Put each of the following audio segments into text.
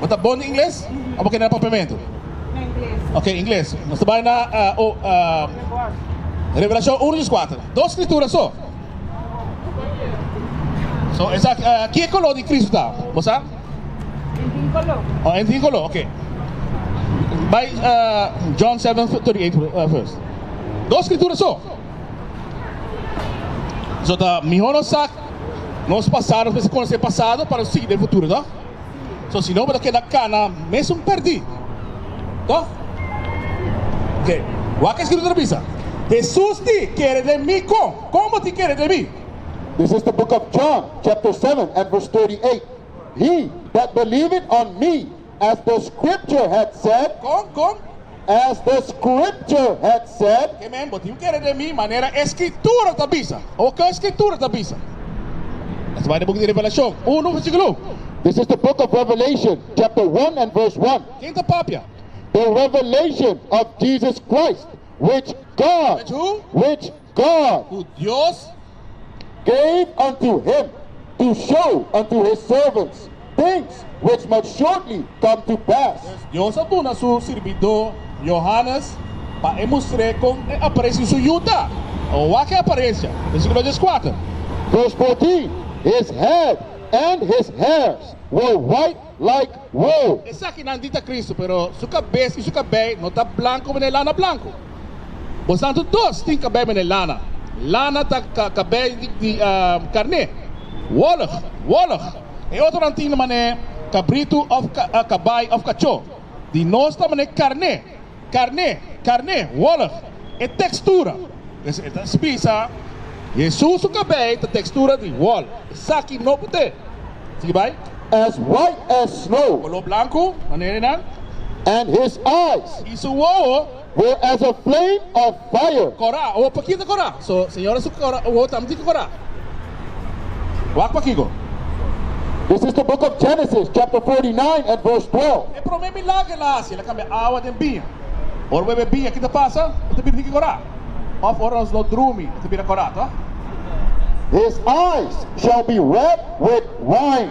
Bo ta bon di ingles o bo kende na papiamentu? Ok, ingles. Nos ta bai na Revelashon uno dus kuater. Dos skritura so. So, esa ki koló di Kristu ta? Bo sa? E tin koló. Oh, e tin koló, ok. Bai John seven thirty eight first. Dos skritura so. So ta mihó nos sa. Nos pasado nos mester conoce pasado pa nos sigui den futuro to so si no bo ta keda cana mesun perdi to ok wak a escrito ta bisa Jesus di kere den mi con con bo tin kere den mi. This is the book of John chapter seven and verse thirty eight he that believeth on me As the scripture hath said. Con, con? As the scripture hath said. Oke men, bo tin kere den mi manera e Skritura ta bisa, o ke e Skritura ta bisa. Esta bai den buki di Revelashon unu versíkulo un. This is the book of Revelation, chapter one and verse one. Ken ta papia? The revelation of Jesus Christ, which God, Which who? which God tu Dios gave unto him to show unto his servants things which must shortly come to pass. Pues, Dios a duna su sirbidó Johannes pa e mustr'é kon e apareshi su yu ta. Awor wak e aparencia. Versículo dies kuater. Despues di, his head and his hairs were white Like, Wow! Esaki nan di ta Cristo, pero su cabes y su cabey no ta blanco mene lana blanco. Bos anto dos tin cabey mene lana. Lana ta cabey di carne. Wollig, Wollig! E otronan tin mane cabrito of cabai of cacho. Di nos ta mane carne. Karné, karné, wòlg, e tekstura. Pues e ta spisa. Hesus su kabei ta tekstura di wòlg. Esaki no por te. Sigui bai. As white as snow. Koló blanku, manera nan. And his eyes. I su wowo. Were as a flame of Bayo. Kora, awor pa kita kora. So, señora su kora, awor tambe tin ke kora. Wak pa kiko? This is the book of Genesis chapter 49 and verse 12. E prome milager el a hasi, el a kambia awa den biña. Ora bo e biña, ki ta pasa? E ta bira tin ke kora. Of ora nos lo drumi, e ta bira kora, ta? His eyes shall be wet with wine.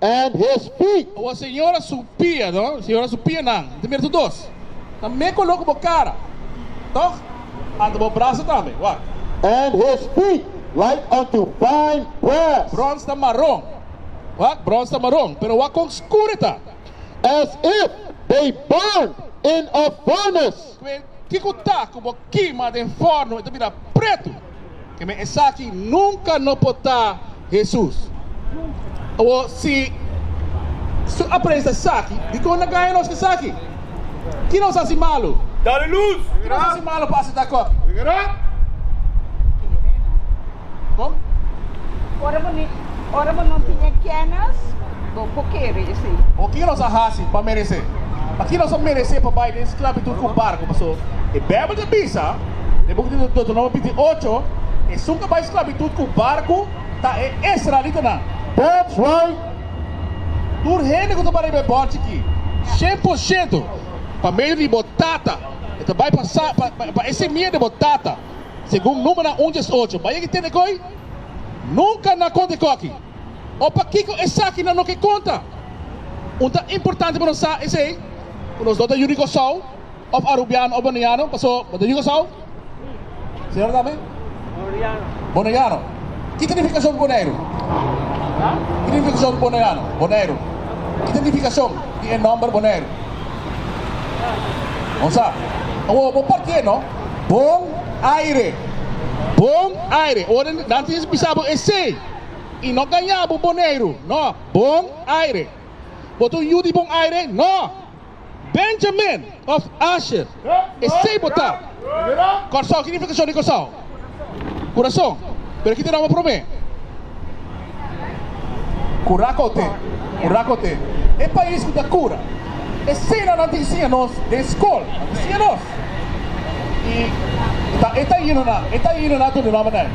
and his feet. Awor señora su pia no señora su pia nan ta mira su dos ta me color cu bo cara toch anta bo brasa tambe wak. And his feet like unto fine brass. Bronze ta maron wak bronze ta maron pero wak con scuro ta. As if they burned in a furnace. Cu e kico ta cu bo kima den forno e ta bira preto. Keme esaki nunka no por ta Hesus. Awor, si Su apresa esaki, dikon na gaña nos esaki? Ki nos hasi malu? Ki nos hasi malu pa asina akoki? Kon? Ora bo no tin e kenis, bo por kere esei. Awor, ki nos a hasi pa meresé? Paki nos a meresé pa bai den sklabitut ku barku? Pasobra e Beibel ta bisa. Den book di Deuteronomio binti ocho, esun cu a bay sclavitud cu barcu ta e Israelitanan. That's right! Tur hende cu ta bay riba e bordje aki, cien por ciento pa medio di bo tata, e ta bay pasa pa e semia di bo tata, segun Numenan un dies ocho. Bay aki tende coy? Nunca nan a conta e coki. O pakico esaki nan no ke conta? Un ta importante pa nos sa esey cu nos no ta yuri Cosao. of Arubiano of Boneiano paso bo ta Yugo South? Señor Dame? Boneiano. Boneiano. Ki ta nifikashon Boneiru? Ha? Ki ta nifikashon Boneiano? Boneiru. Ki ta nifikashon di e nomber Boneiru? Bon sa. Awo bo partié no? Bon aire. Bon aire. Ora nan tin bisa bo esei i no gaña bo Boneiru? No. Bon aire. Bo ta un yu di Bon aire? No. Benjamin of Asher, esey bo ta. Kòrsou, ki nifikashon di kòrsou? Kurason, pero ki ta nòmber promé? Kura kote, kura kote, e pais ku ta kura, esey nan nan ta insiña nos den skol, nan ta insiña nos, i ta e ta yino nan, e ta yino nan tur di nòmber nan,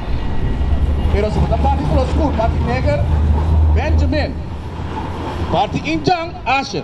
pero si bo ta parti kolo skur, parti neger, Benjamin, parti injan, Asher.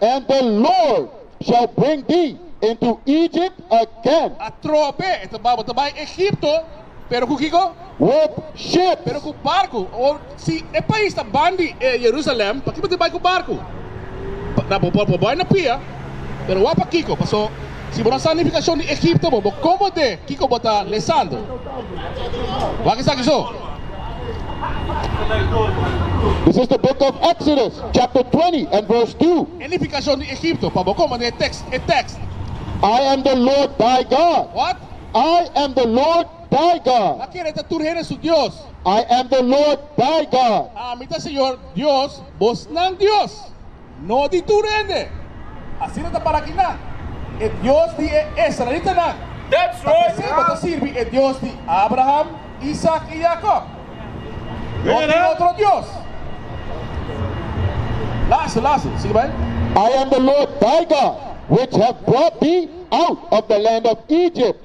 And the Lord shall bring thee into Egypt again. A trope, e ta bouw ta bai Egipto, pero ku kiko? With ships. Pero ku barku. O, si e pais ta bandi e Jerusalem, pakiko bo tin bai ku barku? Bo por bai na pia, pero wak pa kiko? Paso. Si bo ta sa nifikashon di Egipto bo, bo komo de kiko bo ta lesando. Wak esaki so. This is the book of Exodus chapter 20 and verse 2. E nifikashon di Egipto pa bo komo den e tekst. I am the Lord thy God. Wat? I am the Lord thy God. A kere ta tur hende su Dios. I am the Lord thy God. Ami ta Señor Dios bosnan Dios. No di tur hende. Asina ta para kina? E Dios di e israelitanan. Pasobra bo ta sirbi e Dios di Abraham, Isaac i Jacob. No tin otro dios. Laatste, laatste. Sigui bai. I am the Lord thy God, which have brought thee out of the land of Egypt.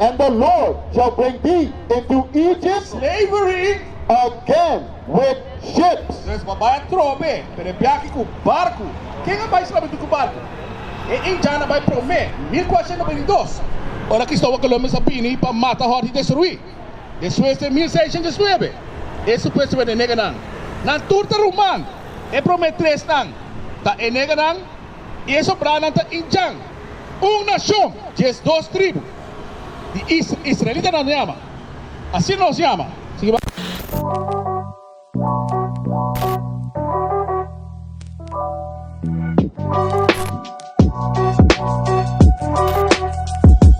and the Lord shall bring thee into Egypt slavery again with ships. Nos por bai a trope, pero e biahi cu barcu. Ken a bai slabitud cu barcu? E Injan a bai prome, mil cuashenta bini dos. Ora Cristovo Columbus a bini pa mata hort y destrui. Despues den mil seishentes nuebe, e supuesto wenenega nan, nan tur ta ruman. E prome tres nan ta e nega nan. I e sobranan ta i djan, un nashon, diesdos tribu di israelitanan yama. Asina nos yama.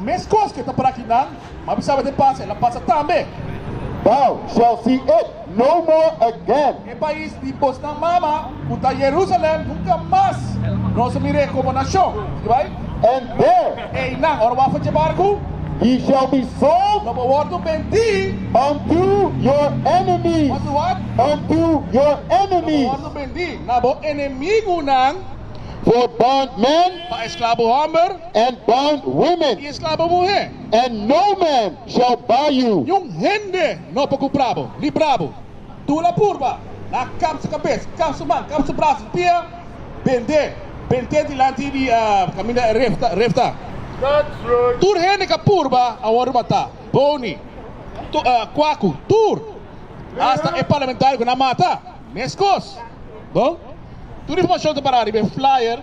Meskos ke ta praki nan, ma bisaba den pasa el a pasa tambe. Thou shall see it no more again. E pais di bosnan mama, ku ta Yerusalèm, nunka mas nos a mir'é komo nashon. Sigi bai. And there. Einan, ora bo a faché barku. He shall be sold. Lo bo wòrdu bendí. Unto your enemies. Wòrdu wòt? Unto your enemies. Lo bo wòrdu bendí na bo enemigunan. For bondmen. Pa esklabo hòmber. and bond women. I esclabo muhé. And no man shall buy you. Niun hende no por cumpra bo, libra bo. Tur la purba, la cap su cabes, cap su man, cap su brazo, su pia, bendé, bendé dilanti di caminda refta, refta. Tur hende ca purba a worde mata, boni, cuacu, tur, hasta e parlamentario cu nan mata, mescos. Bon, tur informacion ta para riba e flyer.